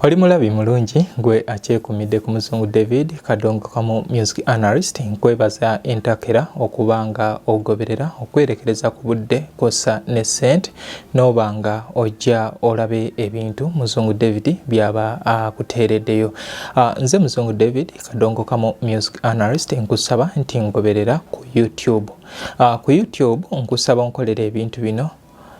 Oli mulabi mulungi gwe akyekumidde ku muzungu David Kadongo kamu music analyst nkwebaza entakera okuba nga ogoberera okwerekereza ku budde kosa ne sente n'oba nga ojja olabe ebintu muzungu David byaba akuteereddeyo. Ah, nze muzungu David Kadongo kamu music analyst nkusaba nti ngoberera ku YouTube. Ah, ku YouTube nkusaba onkolera ebintu bino.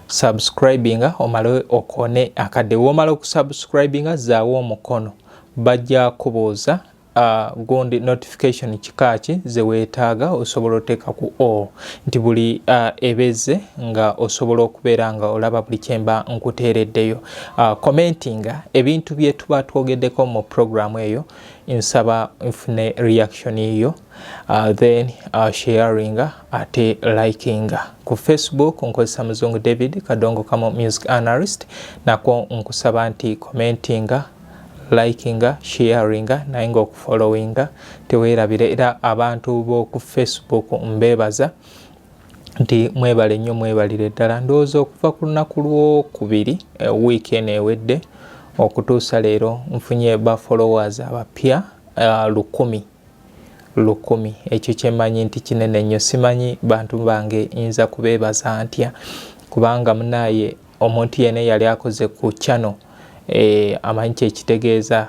subscribinga omale okone akadde womala okusubscribinga zaawo omukono bajja kubuuza uh, gundi notification kika ki zeweetaaga osobola oteeka ku o nti buli uh, ebeze nga osobola okubeera nga olaba buli kyemba nkuteereddeyo uh, commentinga ebintu byetuba twogeddeko mu programu eyo nsaba nfune reaction yo Uh, then uh, sharinga ate likinga ku facebook nkozesa muzungu david kadongo kamo music analyst nakwo nkusaba nti commentinga likinga sharinga naye nga okufollowinga tewerabire era abantu boku facebook mbebaza nti mwebale nnyo mwebalire ddala ndowooza okuva ku lunaku lwokubiri eh, wiiki eno ewedde okutuusa leero nfunye ba followers abapya uh, lukumi lukumi ekyo kyemanyi nti kinene nnyo simanyi bantu bange nyinza kubeebaza ntya kubanga munaaye omuntu yena eyali akoze ku channel eh, amanyi kyekitegeeza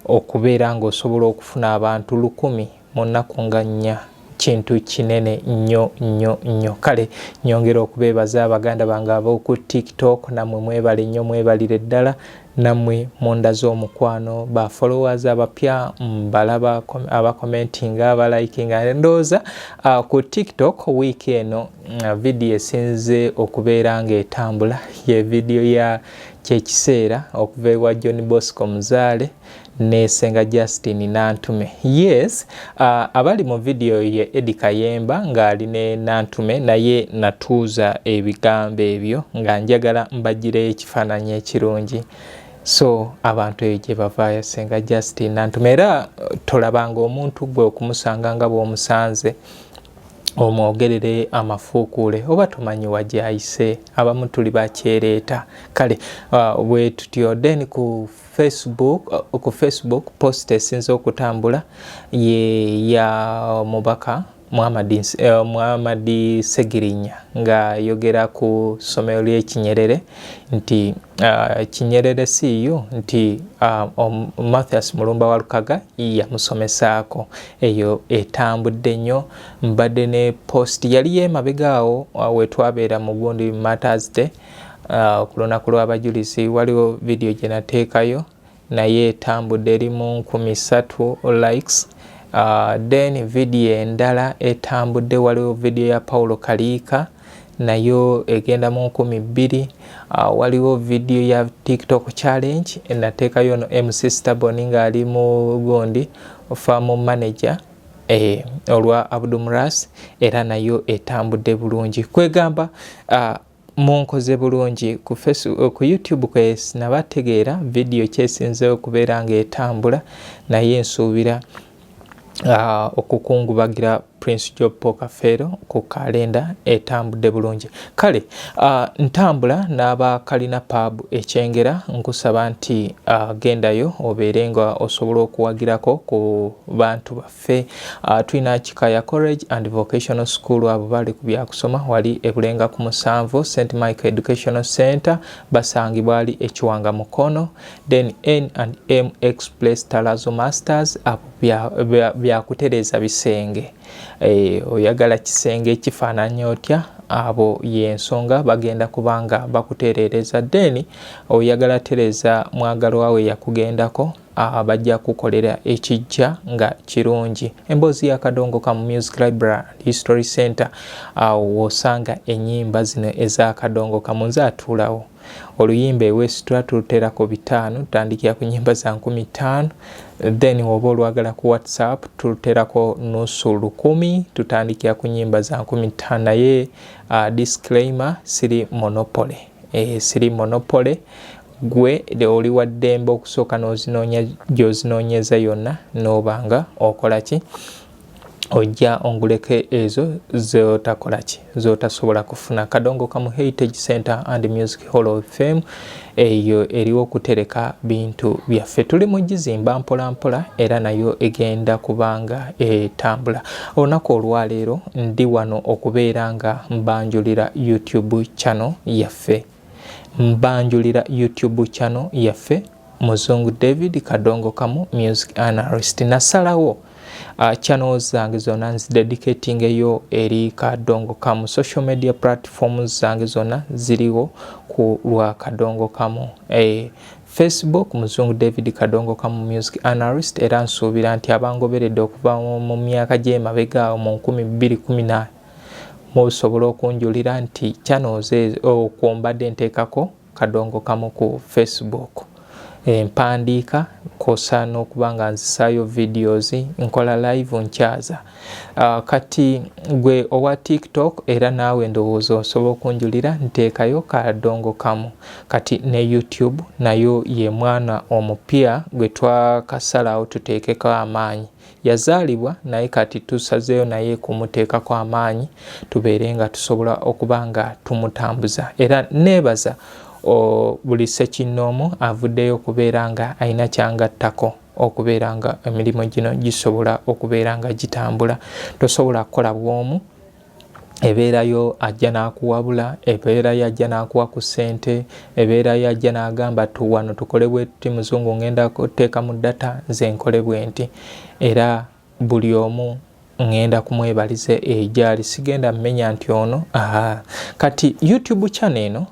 okubeera nga osobola okufuna abantu lukumi mu nnaku nga nnya kintu kinene nnyo nnyo nnyo kale nyongera okubeebaza abaganda bange ab'oku tiktok namwe mwebale nnyo mwebalire ddala Namwe mundaze omukwano ba followers abapya mbalaba aba commenting aba liking ndoza uh, ku TikTok week eno uh, video esinze okubeera nga etambula ye video ya kyekiseera okuva ewa John Bosco Muzale ne senga Justin Nantume. Yes, uh, abali mu video ye Edi Kayemba ng'ali ne Nantume naye natuuza ebigambo ebyo nga njagala mbagireyo ekifaananyi ekirungi so abantu eyo gye bavaayo senga Justin Nantume era uh, tolabanga omuntu gwe okumusanga nga bw'omusanze omwogerere amafuukuule oba tomanyi wagyayise abamu tuli bakyereeta kale uh, bwe tutyo then ku Facebook, uh, ku Facebook post esinze okutambula ye ya mubaka Muhammadi eh, Muhammadi Segirinya nga yogera ku ssomero ly'ekinyerere nti uh, kinyerere siiyo nti uh, um, Mathias Mulumba wa Lukaga yamusomesaako eyo etambudde nnyo mbadde ne post yali yemabega awo uh, wetwabeera mu gundi Matters Day uh, ku lunaku lw'abajulizi waliwo vidiyo gye nateekayo naye etambudde eri mu nkumi ssatu likes uh, then vidiyo endala etambudde waliwo vidiyo ya paulo kaliika nayo egenda mu nkumi bbiri uh, waliwo vidiyo ya tiktok challenge enateekayo no mc stabon ngaali mu gundi famu manager eh, olwa abdumras era nayo etambudde bulungi kwegamba uh, Munkoze bulungi ku Facebook, eh, ku YouTube kwes nabategeera video kyesinzeewo okubeera ng'etambula naye nsuubira uh, okukungubagira Prince Job Pokafeero ku kalenda etambudde bulungi. Kale uh, ntambula n'aba Kalina Pub ekyengera nkusaba nti uh, gendayo obeere nga osobola okuwagirako ku bantu baffe. ffe uh, tulina kikaya college and vocational school abo bali ku byakusoma wali ebulenga ku musanvu st michael educational center basangibwa ali ekiwanga mukono then n and m express talazo masters abo byakutereeza bisenge e, oyagala kisenge ekifaananya otya abo yensonga bagenda kubanga bakutereereza then oyagala tereeza mwagalwawe yakugendako Ah, bajja kukolera ekijja nga kirungi emboozi yakadongoka mu music library history center awo ah, wosanga enyimba zino ezakadongoka munze atuulawo oluyimba ewesitula tulutera ku bitaano tutandikira ku nyimba za nkumi ttaano then woba olwagala ku whatsapp tuluterako nusu lukumi tutandikira ku nyimba za nkumi ttaano naye uh, disclaimer siri monopoly eh, siri monopole gwe oli wa ddembe okusooka n'ozinoonya gy'ozinoonyeza yonna n'obanga okola ki ojja onguleko ezo zotakola ki zotasobola kufuna kadongo kamu heritage center and music hall of fame eyo eriwo okutereka bintu byaffe tuli mu gizimba mpolampola era nayo egenda kubanga etambula Olunaku olwaleero ndi wano okubeera nga mbanjulira YouTube channel yaffe. Mbanjulira YouTube channel yaffe Muzungu David Kadongo Kamu Music Analyst. Nasalawo uh, channel zange zona nzidedicating eyo eri Kadongo Kamu. Social media platforms zange zona ziriwo ku lwa Kadongo Kamu. Eh, Facebook muzungu David Kadongo Kamu Music Analyst era nsuubira nti abangoberedde okuva mu myaka gy'emabega awo mu 2018 musobola okunjulira nti channels okwo mbadde nteekako Kadongo Kamu ku Facebook empandiika eh, kosa n'okuba nga nzisaayo videos nkola live nkyaza Uh, kati gwe owa tiktok era naawe ndowooza osobola okunjulira nteekayo kadongo kamu kati ne youtube nayo ye mwana omupya gwe twakasalawo tuteekeko amaanyi yazaalibwa naye kati tusazeeyo naye kumuteekako amaanyi tubeere nga tusobola okuba nga tumutambuza era neebaza buli sekinnoomu avuddeyo okubeera nga alina kyangattako okubeera nga emirimu gino gisobola okubeera nga gitambula tosobola kukola bwomu ebeera yo ajja n'akuwabula ebeera yo ajja n'akuwa ku ssente ebeera yo ajja n'agamba tu wano tukole bwetuti muzungu ngenda kuteeka mu data nze nkole bwenti era buli omu ngenda kumwebaliza egyali sigenda mumenya nti ono aha kati youtube channel eno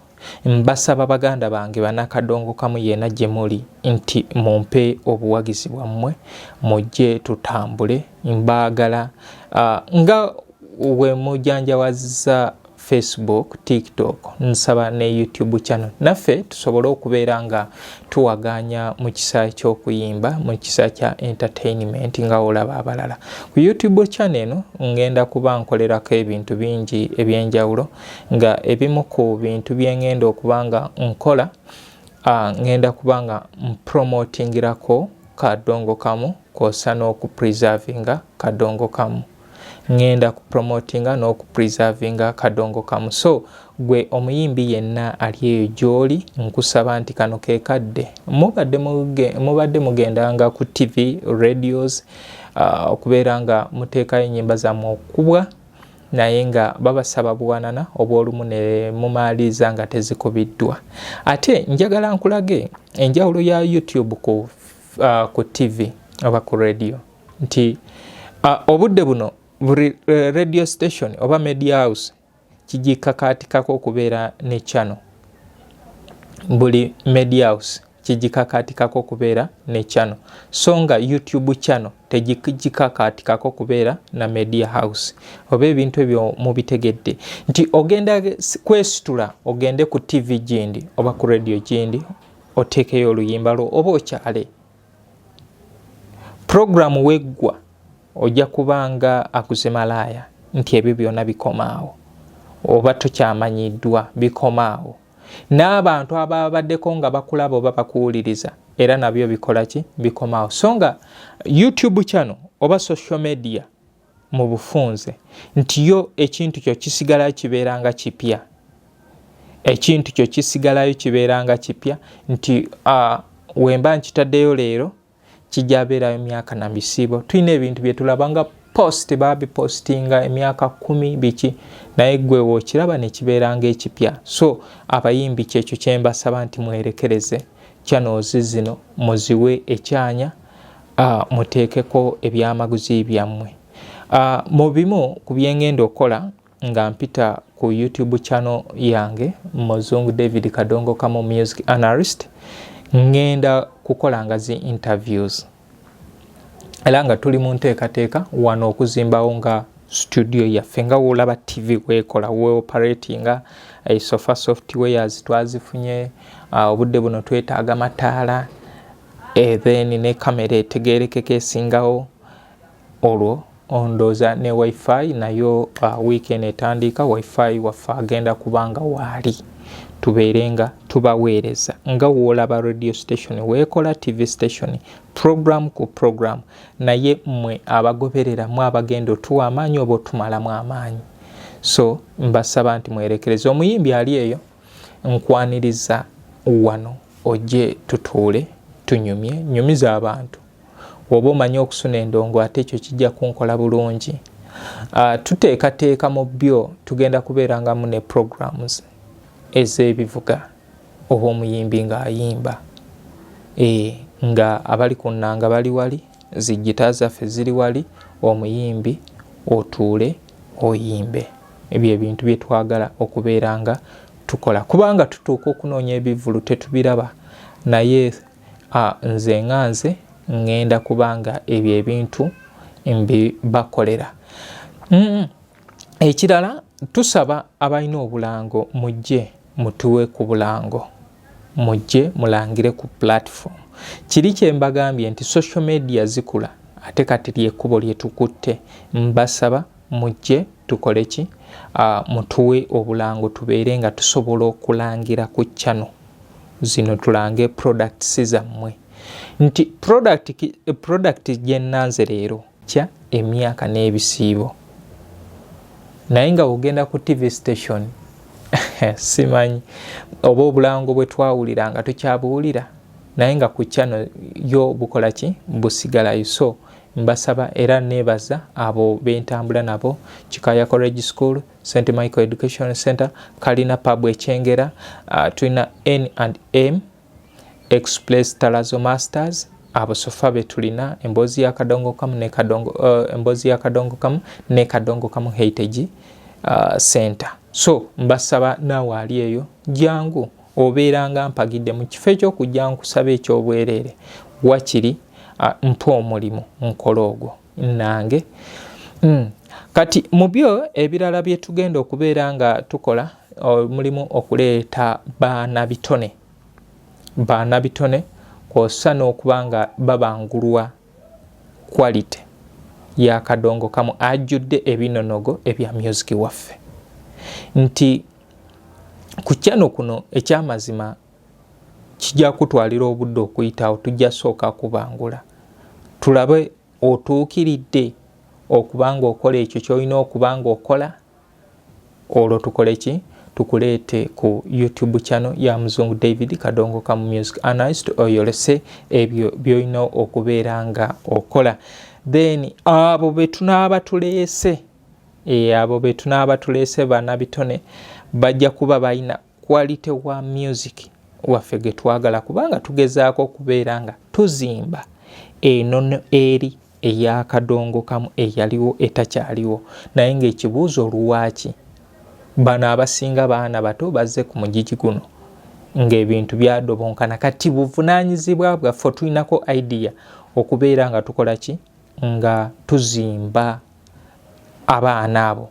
mbasaba baganda bange banakadongo kamu yena gyemuli nti mumpe obuwagizi bwammwe mujje tutambule mbaagala uh, nga wemujanjawaziza facebook tiktok nsaba ne youtube channel naffe tusobole okubeera nga tuwaganya mu kisa ky'okuyimba mu kisa kya entertainment nga olaba abalala ku youtube channel eno ngenda kuba nkolerako ebintu bingi ebyenjawulo nga ebimu ku bintu byengenda okuba nga nkola ah, ngenda kuba nga mpromotingirako kadongo kamu kwosa n'okupreservinga kadongo kamu ngenda ku promotinga n'oku preservinga kadongo kamu so gwe omuyimbi yenna ali eyo gy'oli nkusaba nti kano ke kadde mubadde mugendanga ku tv radios uh, okubeera nga muteekayo ennyimba zammwe okukubwa naye nga babasaba buwanana obwolumu ne mumaaliza nga tezikubiddwa ate njagala nkulage enjawulo ya youtube ku, uh, ku tv oba ku radio nti uh, obudde buno buli eh, radio station oba media house kigikakaatikako okubeera ne channel buli media house kigikakaatikako okubeera ne channel so nga youtube channel tegikakaatikako okubeera na media house oba ebintu ebyo mubitegedde nti ogenda kwesitula ogende ku tv gindi oba ku radio gindi oteekeyo oluyimba lwo oba okyale pulogulaamu weggwa ojja kuba nga aguze malaaya nti ebyo byona bikomaawo oba tukyamanyiddwa bikomaawo n'abantu ababaddeko nga bakulaba oba bakuwuliriza era nabyo bikola ki bikomaawo so nga youtube channel oba social media mu bufunze nti yo ekintu kyo kisigalayo kibeera nga kipya ekintu kyo kisigalayo kibeera nga kipya nti uh, wemba nkitaddeyo leero kijja beerayo myaka na bisiibo tulina ebintu bye tulaba nga post babipostinga emyaka kumi biki naye gwe wokiraba nekibeera nga ekipya so abayimbi kyekyo kyembasaba nti mwerekereze channels zino muziwe ekyanya uh, muteekeko ebyamaguzi byammwe uh, mu bimu ku byengenda okukola nga mpita ku youtube channel yange muzungu david kadongo kamo music analyst ngenda kukola nga zi interviews era nga tuli mu nteekateeka wano okuzimbawo nga studio yaffe nga wolaba tv kwekola weoperatinga esofa eh, softwares twazifunye ah, obudde buno twetaaga mataala Eh, then ne kamera etegerekeko esingawo olwo ondooza ne wifi nayo uh, weekend etandiika wifi waffe agenda kubanga waali tubeere nga tubaweereza nga woolaba radio station weekola tv station program ku program naye mmwe abagoberera mu abagenda otuwa amaanyi oba otumalamu amaanyi so mbasaba nti mwerekereza omuyimbi ali eyo Nkwaniriza wano ojje tutuule tunyumye nyumiza abantu. Woba omanyi okusuna endongo ate ekyo kijja kunkola bulungi. Uh, tuteekateeka mu byo tugenda kubeerangamu ne programs ez'ebivuga oba omuyimbi ng'ayimba e, nga abali ku nnanga bali wali zijjita zaffe ziri wali omuyimbi otuule oyimbe. ebyo ebintu bye twagala okubeera nga tukola kubanga tutuuka okunoonya ebivvulu tetubiraba naye nze nga nze ŋŋenda kubanga ebyo ebintu mbibakolera mm. ekirala tusaba abalina obulango mujje mutuwe ku bulango mujje mulangire ku platform kiri kyembagambye nti social media zikula ate kati lyekkubo lyetukutte mbasaba mujje tukole ki uh, mutuwe obulango tubeere nga tusobola okulangira ku chano zino tulange products zammwe nti product, product gyenanze leero kya emyaka n'ebisiibo naye nga ogenda ku tv station simanyi oba obulango bwe twawulira nga tukyabuwulira naye nga ku chano yo bukola ki busigalayo so Mbasaba era nebaza abo bentambula nabo Kikaya College School, St Michael Education Center, Kalina Pub Ekyengera, uh, tulina N and M, Express Talazo Masters, abo sofa betulina emboozi ya kadongo kamu ne kadongo uh, emboozi ya kadongo kamu ne kadongo kamu heritage uh, center so mbasaba naawe ali eyo jangu obeeranga mpagidde mu kifo eky'okujja nkusaba eky'obwereere wakiri mpa omulimu nkole ogwo nange hmm. kati mu byo ebirala bye tugenda okubeera nga tukola omulimu okuleeta baana bitone baana bitone kwossa n'okuba nga babangulwa quality yakadongo kamu ajjudde ebinonogo ebya myuziki waffe nti ku kyano kuno ekyamazima kijja kutwalira obudde okuyitawo tujja sooka kubangula tulabe otuukiridde okubanga okola ekyo kyolina okubanga okola olwo tukole ki tukuleete ku youtube channel ya muzungu david kadongo kamu music anist oyolese ebyo byolina okubeera nga okola then abo betunaaba tuleese E, abo betunaaba tuleese bana bitone bajja kuba balina quality wa music waffe getwagala kubanga tugezaako okubeera nga tuzimba enono eri eyakadongo kamu eyaliwo etakyaliwo naye ngaekibuuzo oluwaaki bano abasinga baana bato bazze ku mugigi guno ngaebintu byadobonkana kati buvunanyizibwa bwaffe tulinako idea okubeera nga tukola ki nga tuzimba abaana abo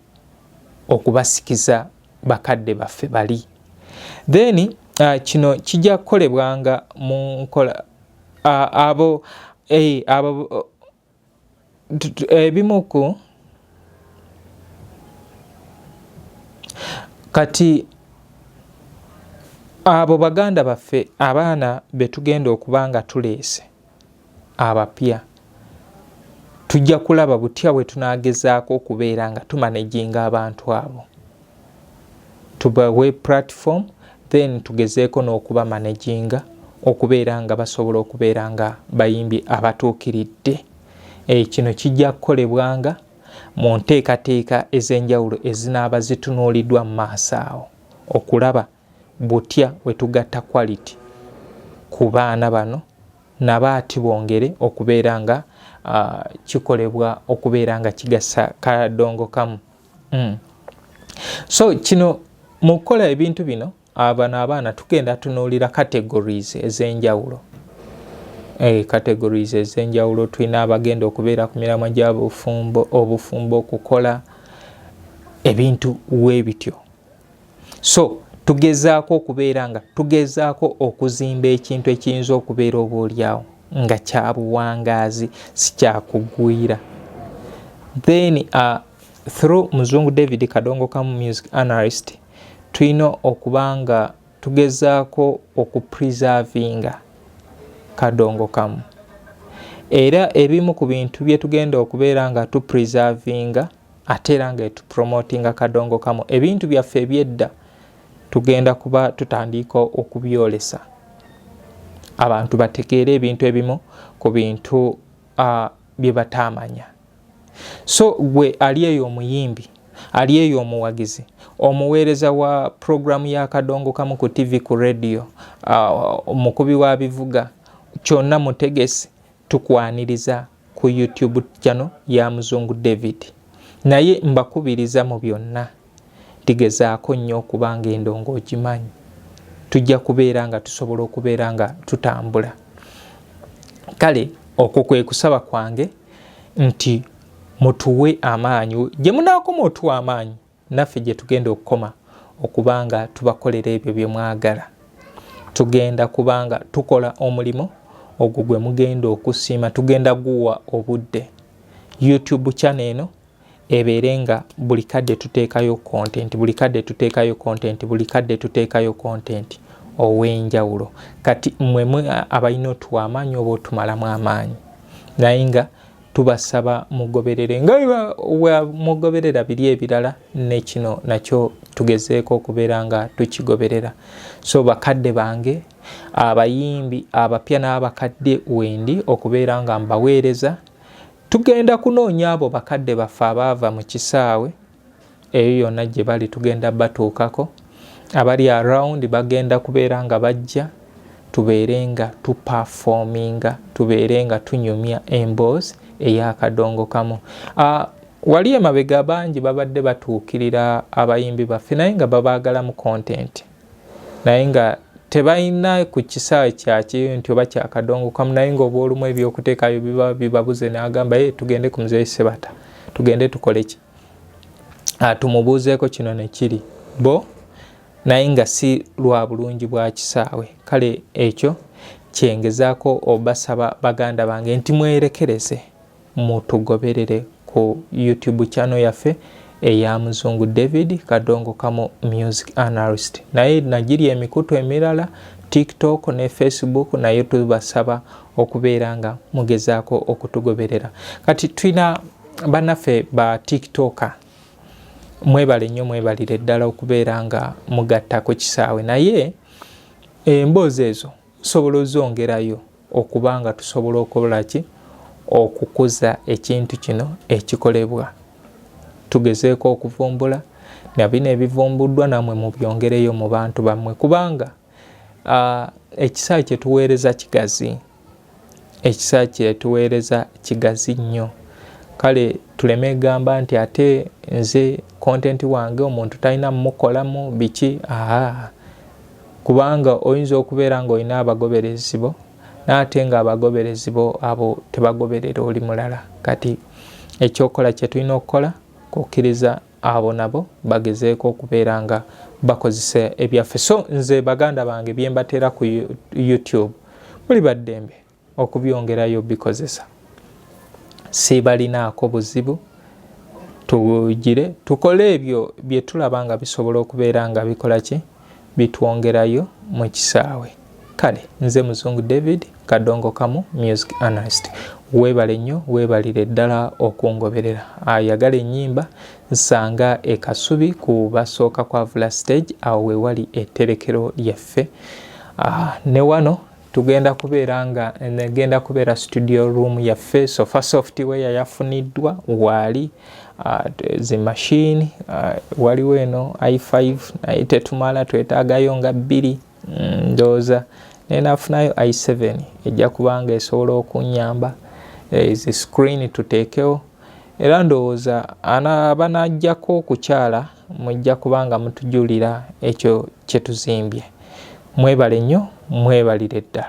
okubasikiza bakadde baffe bali then uh, kino kijja kukolebwanga mu nkola uh, abo eh, abo ebimu ku kati abo baganda baffe abaana betugenda okuba nga tuleese abapya tujja kulaba butya bwe tunagezaako okubeera nga tumanaginga abantu abo tubawe platform then tugezeeko n'okuba managinga okubeera nga basobola okubeera nga bayimbi abatuukiridde eh, kino kijja kukolebwanga mu nteekateeka ez'enjawulo ezinaaba zitunuuliddwa mu maaso awo okulaba butya wetugatta quality ku baana bano nabo ati bongere okubeera nga uh, kikolebwa okubeera nga kigasa kadongo kamu mm. so kino mu kukola ebintu bino abano ah, abaana tugenda tunuulira categories ez'enjawulo eh, categories ez'enjawulo tulina abagenda okubeera ku miramwa gyabufumbo obufumbo okukola ebintu webityo so tugezaako okubeera nga tugezaako okuzimba ekintu ekiyinza okubeera oba olyawo nga kyabuwangaazi sikyakugwira then uh, through muzungu david kadongo kamu music analyst tulina okuba nga tugezaako okupreservinga kadongo kamu era ebimu ku bintu bye tugenda okubeera nga tupreservinga ate era nga etupromotinga kadongo kamu ebintu byaffe ebyedda tugenda kuba tutandiika okubyolesa abantu bategeere ebintu ebimu ku bintu uh, bye bataamanya so gwe ali eyo omuyimbi ali eyo omuwagizi omuweereza wa puroguramu ya kadongo kamu ku tv ku rediyo uh, omukubi wa bivuga kyonna mutegesi tukwaniriza ku YouTube channel ya Muzungu David. Naye mbakubiriza mu byonna ndigezaako nnyo okuba nga endongo ogimanyi. Tujja kubeera nga tusobola okubeera nga tutambula. Kale okwo kwe kusaba kwange nti mutuwe amaanyi gye munaakoma otuwa amaanyi naffe gye tugenda okukoma okuba nga tubakolera ebyo bye mwagala tugenda kuba nga tukola omulimu ogwo gwe mugenda okusiima tugenda guwa obudde youtube channel eno ebeere nga buli kadde tuteekayo content buli kadde tuteekayo content buli kadde tuteekayo content ow'enjawulo kati mmwe abalina otuwa amaanyi oba otumalamu amaanyi naye nga tubasaba mugoberere nga mugoberera biri ebirala nekino nakyo tugezeeko okubeera nga tukigoberera so bakadde bange abayimbi abapya n'abakadde wendi okubeera nga mbaweereza tugenda kunoonya abo bakadde baffe abaava mu kisaawe eyo yona gye bali tugenda batuukako abali around bagenda kubeera nga bajja tubeere nga tupafominga tubeere nga tunyumya emboozi eyakadongo kamu ah, wali emabega bangi babadde batuukirira abayimbi baffe naye nga babaagala mu kontenti naye nga tebalina ku kisaawe kyakyeyo nti oba kyakadongokamu naye nga obwolumu ebyokuteekayo biba bibabuze nagamba ye tugende ku muzeeyi sebata tugende tukole ki ah, tumubuuzeeko kino nekiri bo naye nga si lwa bulungi bwa kisaawe kale ekyo kyengezaako obasaba baganda bange nti mwerekereze Mutugoberere ku YouTube channel yaffe eya Muzungu David Kadongo Kamo Music Analyst. Naye nagiri emikutu emirala TikTok ne Facebook nayo tubasaba okubeera nga mugezaako okutugoberera. Kati tulina banaffe ba TikToker mwebale nnyo mwebalire ddala okubeera nga mugatta ku kisaawe naye emboozi ezo osobola ozongerayo okuba nga tusobola okukola ki okukuza ekintu kino ekikolebwa tugezeeko okuvumbula na bino ebivumbuddwa namwe mubyongereyo mu bantu bammwe kubanga ekisaa kyetuweereza kigazi ekisaa kyetuweereza kigazi nnyo kale tuleme egamba nti ate nze kontenti wange omuntu talina mumukolamu biki aa kubanga oyinza okubeera ng'olina abagoberezi bo naate nga abagoberezi bo abo tebagoberera oli mulala kati ekyokola kyetulina okukola kukkiriza abo nabo bagezeeko okubeera nga bakozesa ebyaffe so nze baganda bange byembateera ku youtube muli baddembe okubyongerayo bikozesa sibalinaako buzibu tugire tukole ebyo bye tulaba nga bisobola okubeera nga bikola ki bitwongerayo mu kisaawe kale nze muzungu david kadongo kamu music analyst weebale nnyo weebalire ddala okungoberera ayagala ennyimba nsanga ekasubi ku basooka kwavula stage awo wewali etterekero lyaffe ah, ne wano tugenda kubeera nga egenda kubeera studio room yaffe sofa software yafuniddwa waali uh, zi machine uh, waliwo eno i5 naye tetumala twetaagayo nga bbiri mm, ndooza naye nafunayo i7 ejja kubanga esobola okunyamba ezi eh, screen tuteekewo era ndowooza abanajjako okukyala mujja kuba nga mutujulira ekyo kyetuzimbye mwebale nnyo mwebalire ddala.